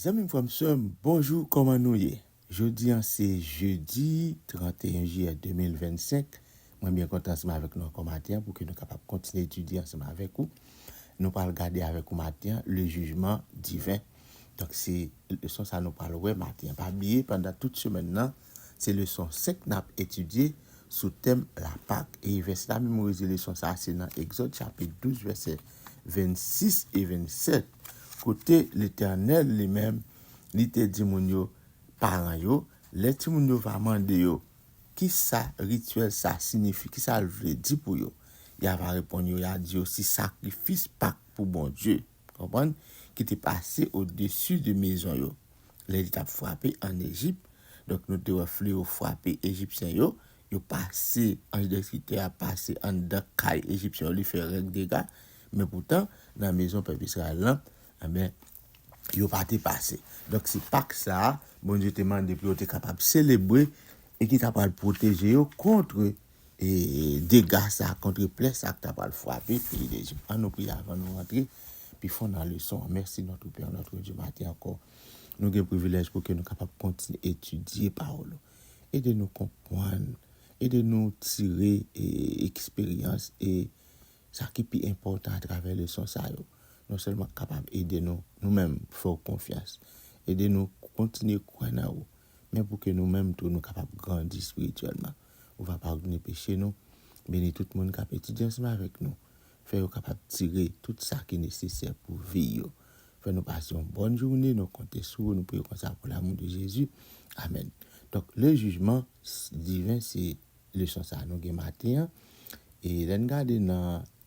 Zanmim frèm sèm bonjou kòman nou ye jodi an se jedi 31 jiyè 2025 mwen byen kontan ansanm avèk nou ankò maten an pouki nou kapab kontinye etidye ansanm avèk ou nou pral gade avèk ou maten an le jijman diven. Donk se leson sa nou pral wè maten an. Pa bliye pandan tout semèn nan, se leson 5 n ap etidye sou tèm Lapak. E vèsè n ap memorize leson sa a se nan Egzòd chapit 12 vèsè 26 e 27 kote Letènèl li menm li te di moun yo, paran yo, lè timoun yo va mande yo kisa rityèl sa a sinifi, kisa l vle di pou yo, y ava reponn yo, y a di yo, se sakrifis Pak pou Bondye. Konprann? Ki te pase odesi de mezon yo, lè li t ap frape ann Ejip. Donk, nou te wè fleo frape Ejipsyen yo, yo pase, anj destriktè a pase anndan kay Ejipsyen yo, li fè règ dega. Men poutan, nan mezon pèp Izrayèl lan, enben, yo pa te pase. Donk, se Pak sa a Bondye te mande pou yo te kapab selebre e ki t apral pwoteje yo kont E dega sa kontre plè sa k ta pral frape peyi Lejip. An nou priye avan nou rantre pi fon nan leson an. Mèsi Nòtre Pè, Nòtre Dye, maten ankò nou gen privilèj pou ke nou kapab kontinye etidye pawòl ou. Ede nou konpwann, ede nou tire e eksperyans e sa ki pi enpòtan atravè leson sa yo. Non sèlman kapab ede nou nou menm fè ou konfyans. Ede nou kontinye kwè nan ou men pou ke nou menm tou nou kapab grandi espirityèlman. ou va padone peche nou, beni tout moun k ap etidye ansanm avèk nou, fè yo kapab tire tout sa ki nesesè pou vi yo. Fè nou pase yon bòn joune, nou konte sou ou, nou priye konsa pou lamou de Jezi, amèn. Donk, le jijman diven se leson sa a nou gen maten an e lè n gade nan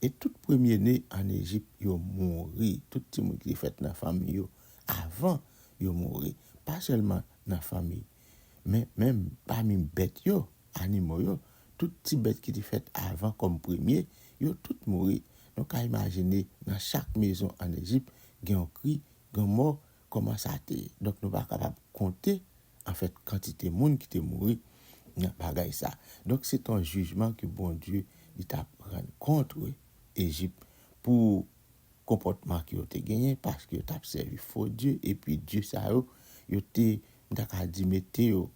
E tout premyene ann Ejip yo mouri, tout timoun ki te fèt nan fanmi yo avan yo mouri, pa sèlman nan fanmi, men menm pami bèt yo, animo yo, tout ti bèt ki te fèt avan kòm premye, yo tout mouri. Nou ka imajine nan chak mezon ann Ejip gen yon kri, gen yon mò, kòman sa te. Donk nou pa kapab konte anfèt kantite moun ki te mouri nan bagay sa. Donk se t on jijman ke Bondye li t ap rann kontre Ejip pou konpòtman ke yo te genyen paske yo t ap sèvi fo dye epi dye sa yo, yo te m ta ka di mete yo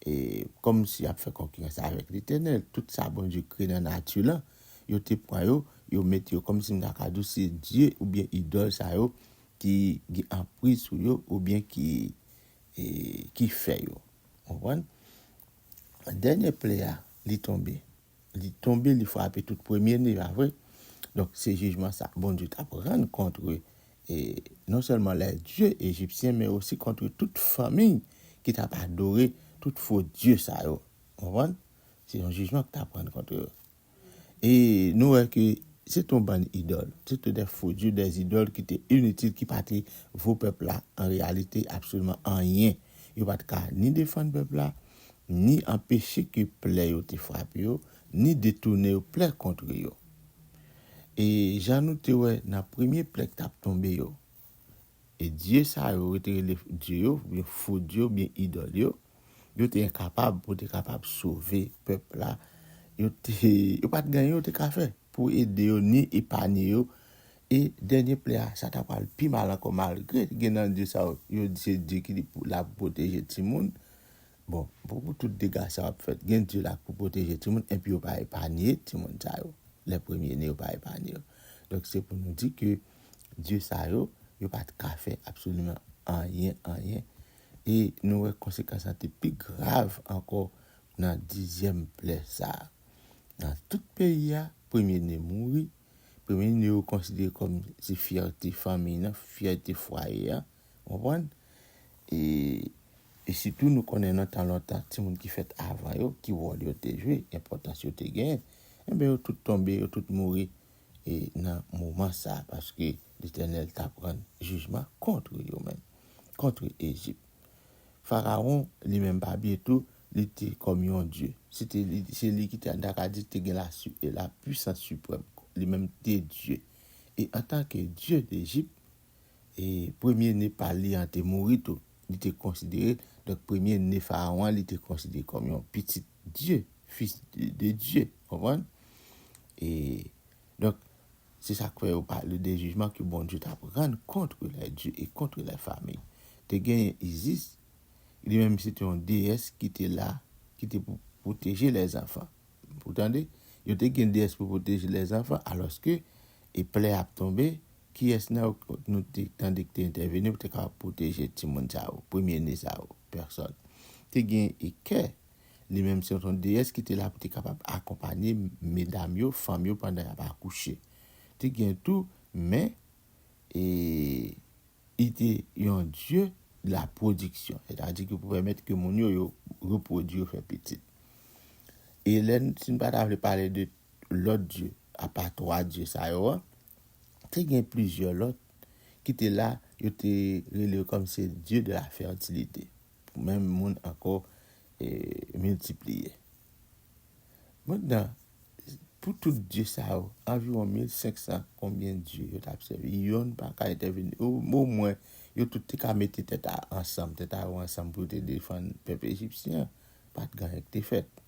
e kòm si y ap fè konkirans avèk Letènèl. Tout sa Bondye kreye nan nati lan, yo te pran yo, yo mete yo kòm si m ta ka di w se dye oubyen idòl sa yo ki gen anpriz sou yo oubyen ki. ki fè yo. Konprann? Dènye ple a, li tonbe. Li tonbe, li frape tout premye ni a vre. Donk, se jijman sa Bondye t ap rann kontre non sèlman lè dye ejipsyen men osi kontre tout fanmi ki t ap adore tout fo dye sa yo. Konprann? Se yon jijman k t ap rann kontre yo. E nou wè ke se te yon bann idòl, se te de fo dye, de zidòl ki te initil, ki pa te vo pèp la an reyalite absoliman anyen. Yo pa te ka ni defann pèp la, ni anpeche ke plè yo te frape yo, ni detounen yo plè kontre yo. E jan nou te wè nan premye plè ki t ap tonbe yo, E dye sa yo, yo te rele dye yo, oubyen fo dye yo, oubyen idòl yo, yo te enkapab pou te kapab sove pèp la. Yo te, yo pa t gen anyen yo te ka fè pou ede yo ni epanye yo. E dènye plè a, sa ta pral pi mal ankò malgre gen nan dye sa yo, yo di se dye ki la pou pwoteje timoun. Bon, pou tout dega sa yo ap fèt, gen dye la pou pwoteje timoun enpi yo pa epanye timoun sa yo. Lè premye ne yo pa epanye yo. Donk se pou nou di ke. dye sa yo, yo pa t ka fè absoliman anyen, anyen. E nou wè konsekans lan te pi grav ankò nan dizyèm plè sa a. Nan tout peyi a, premye ne mouri. Premye ne yo konsidere kòm se fyète fanmiy lan, fyète fwaye a. Ou konprann? E, e sitou nou konnen nan tan lontan, timoun ki fèt avan yo, ki wòl yo te jwe, enpòtans yo te genyen, enben yo tout tonbe, yo tout mouri. e nan moman sa a, paske Letènèl t ap rann jijman kont yo menm, kont Ejip. Farawon li menm pa bye tou, li te kòm yon dye. Se te li, se li ki te, ta ka di, te gen la su, la pwisans siprèm. Li menm te dye. E antanke dye Dejip, e premye ne pa li an te mouri tou. Li te konsidere, donk premye ne Farawon an, li te konsidere kòm yon pitit Dye, fis de Dye. Konprann? E, donk, se sa k fè yo pale de jijman ke Bondye t ap rann kont lè Dye e kont lè fami. Te genyen Isis, li menm se te yon deyès ki te la, ki te pou pwoteje lèzanfan. Ou tande? Yo te gen deyès pou pwoteje lèzanfan, alòske e plè ap tonbe, kiyès nan yo nou te tande ki te entèveni pou te kapab pwoteje timoun sa yo, premyene sa yo? Pèsòn. Te gen Ike, li menm se yon deyès ki te la pou te kapab akonpanye medam yo, fanm yo pandan y ap akouche. Te gen tou Men, e li te yon dye de la pwodiksyon, sètadi ki pou pèmèt ke moun yo, yo repwodui, yo fè pitit. E lè n, si n pa ta vle pale de lòt dye, Apa twa dye sa yo an, te gen plizyè lòt ki te la, yo te rele yo kòm se dye de la fètilite, pou menm moun ankò miltipliye. Mentnan, pou tout dye sa yo, anviwon 1500 konbyen dye yo t ap sèvi, yonn pa ka entèveni, omwen yo tout te ka mete tèt ansanm, tèt a yo ansanm pou yo te defann pèp ejipsyen an, pa t gen anyen ki te fèt.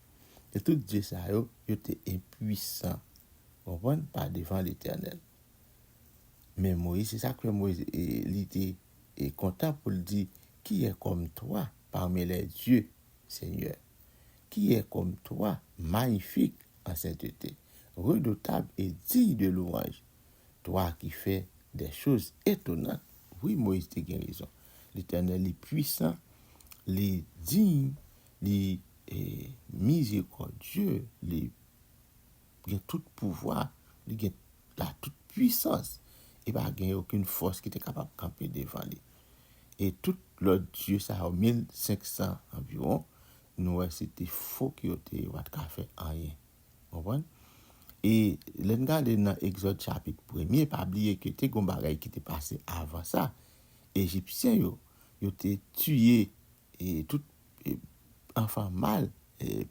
E tout dye sa yo, yo te enpuisan, ou konprann, pa devan Letènèl. Men Moyiz, se sa k fè Moyiz, li te kontan pou l di, Ki è kòm Twa pami lè dye, Senyè? Ki è kòm Twa, mayifik an sentete, redotab e diy de lwanj, Twa ki fè dè choz etonnant? Wi, Moyiz te gen rezon. Letènèl li puisan, li diy Li mizerikòdye, li gen tout pouvwa, li gen la tout pwisans, e pa gen okenn fòs ki te kapab kanpe devan li. E tout lòt dye sa yo, 1500 anviwon, nou wè se te fo ke yo te ye, yo pa te ka fè anyen. Ou konprann? E lè n gade nan Egzòd chapit premye, pa bliye ke te gen yon bagay ki te pase avan sa, Ejipsyen yo, yo te tiye E tout anfan mal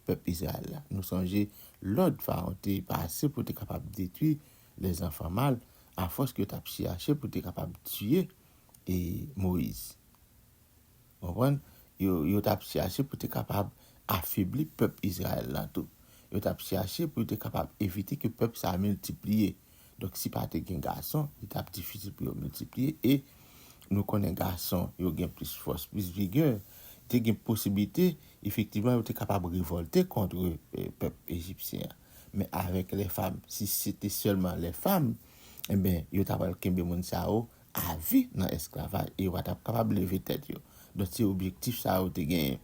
pèp Izrayèl la. Nou sonje lòd Farawon te pase pou te kapab detwi lèzanfan mal afòs ke yo t ap chèche pou te kapab tiye Moyiz. Ou konprann? Yo t ap chèche pou te kapab afebli pèp Izrayèl la tou. Yo t ap chèche pou yo te kapab evite ke pèp sa a miltipliye. Donk si pa te gen gason, li t ap difisil pou yo miltipliye e nou konnen gason yo gen plis fòs, plis vigè, te gen posiblite efektivman yo te kapab revòlte kontre pèp ejipsyen an. Men avèk lè fam, si se te sèlman lè fam, enben yo ta pral kenbe moun sa yo avi nan esklavaj e yo pa t ap kapab leve tèt yo. Donk se objektif sa yo te genyen.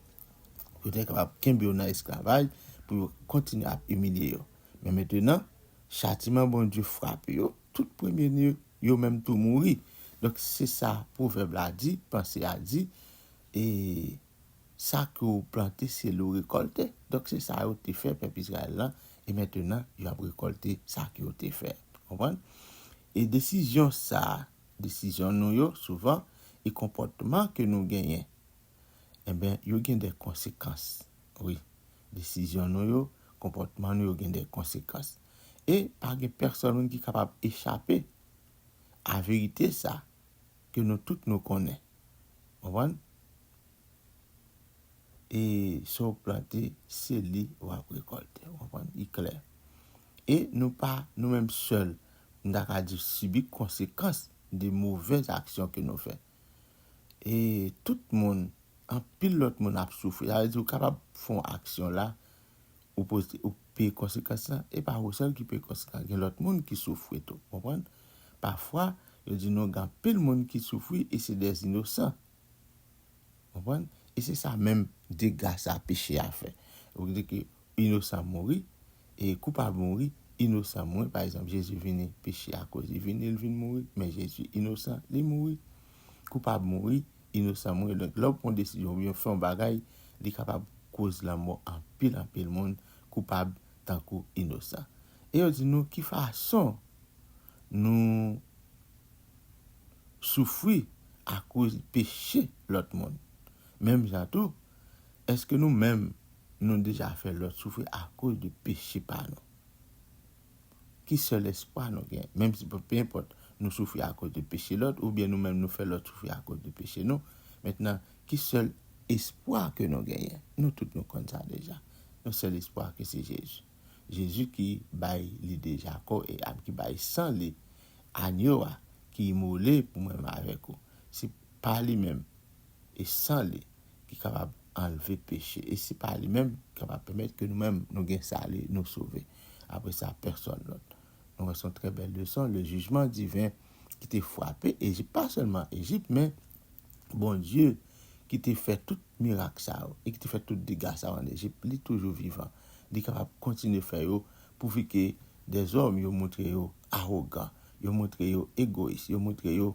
Yo te kapab kenbe yo nan esklavaj pou yo kontinye ap imilye yo. Men mentenan, Chatiman Bondye frape yo, tout premye ni yo menm tou mouri. Donk, se sa pwovèb la di, panse a di, e Sa ke w plante, se li w rekòlte. Donk, se sa yo te fè pèp Izrayèl la, e mentenan, yo ap rekòlte sa ke yo te fè. Konprann? E desizyon sa a, desizyon nou yo, souvan, e konpòtman ke nou genyen, Enben, yo gen de konsekans. Wi, desizyon nou yo, konpòtman nou yo gen de konsekans. E pa gen pèsòn moun ki kapab echape a verite sa a ke nou tout nou konnen. Konprann? E sa w plante, se li w ap rekòlte. Ou konprann? Li klè. E nou pa nou menm sèl, m ta ka di, sibi konsekans de movèz aksyon ke nou fè. e tout moun, anpil lòt moun ap soufri. Sa vle di ou kapab fè yon aksyon la, ou pote, ou peye konsekans lan, e pa ou sèl ki peye konsekans lan, gen lòt moun ki soufri tou. Ou konprann? Pafwa, yo di nou gen anpil moun ki soufri e se dè inosan. Ou konprann? E se sa menm dega sa peche a fè. Ou vle di ke. inosan mouri e koupab mouri inosan mwen pa egzanp jezi vini peche akoz li vini li vin mouri men jezi inosan li mouri koupab mouri inosan mwen donk lè ou pran yon desizyon oubyen ou fè yon bagay li kapab koz lanmò anpil anpil moun koupab tankou inosan e yo di nou ki fason nou soufri akoz peche lòt moun menm jan tou èske nou menm Nou deja fè lòt soufri akoz de peche pa nou. Ki sèl espwa nou gen? Menm si pe enpòt nou soufri akoz de peche lòt oubyen nou menm nou fè lòt soufri akoz de peche nou, mentnan ki sèl espwa ke nou genyen? Nou tout nou konn sa deja. Nou sèl espwa ke se Jezi. Jezi ki bay li deja kò e am, ki bay san li, Anyo a ki imole pou mwen menm avèk ou. Se pa li menm e san li. ki kapab anlve peche, e se pa li menm ki kapab pèmèt ke nou menm nou gen sali, nou sove. Apre sa, pèsòn lòt. Nou wè se yon trè bèl leson, le jijman diven ki te fwape Ejip, pa sèlman Ejip, men Bondye ki te fè tout mirak sa yo, e ki te fè tout dega sa yo ann Ejip, li toujou vivan. Li kapab kontinye fè yo, pouvi ke dèzòm yo montre yo awogan, yo montre yo egoyis, yo montre yo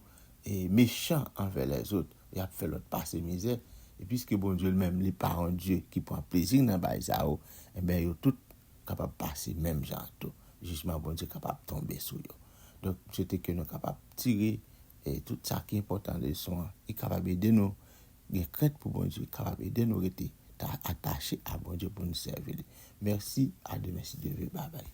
mechan anvè lèzot, y ap fè lòt pase mizè. E piske Bondye li menm li pa yon Dye ki pran plezi nan bay sa yo, enben yo tout kapab pase menm jan an tou. Jijman Bondye kapab tonbe sou yo. Donk, m swete ke nou kapab tire tout sa ki enpòtan nan leson an, ki kapab ede nou gen krent pou Bondye, ki kapab ede nou rete atache a Bondye pou nou sèvi li. Mèsi, a demen si Dye vle. Babay.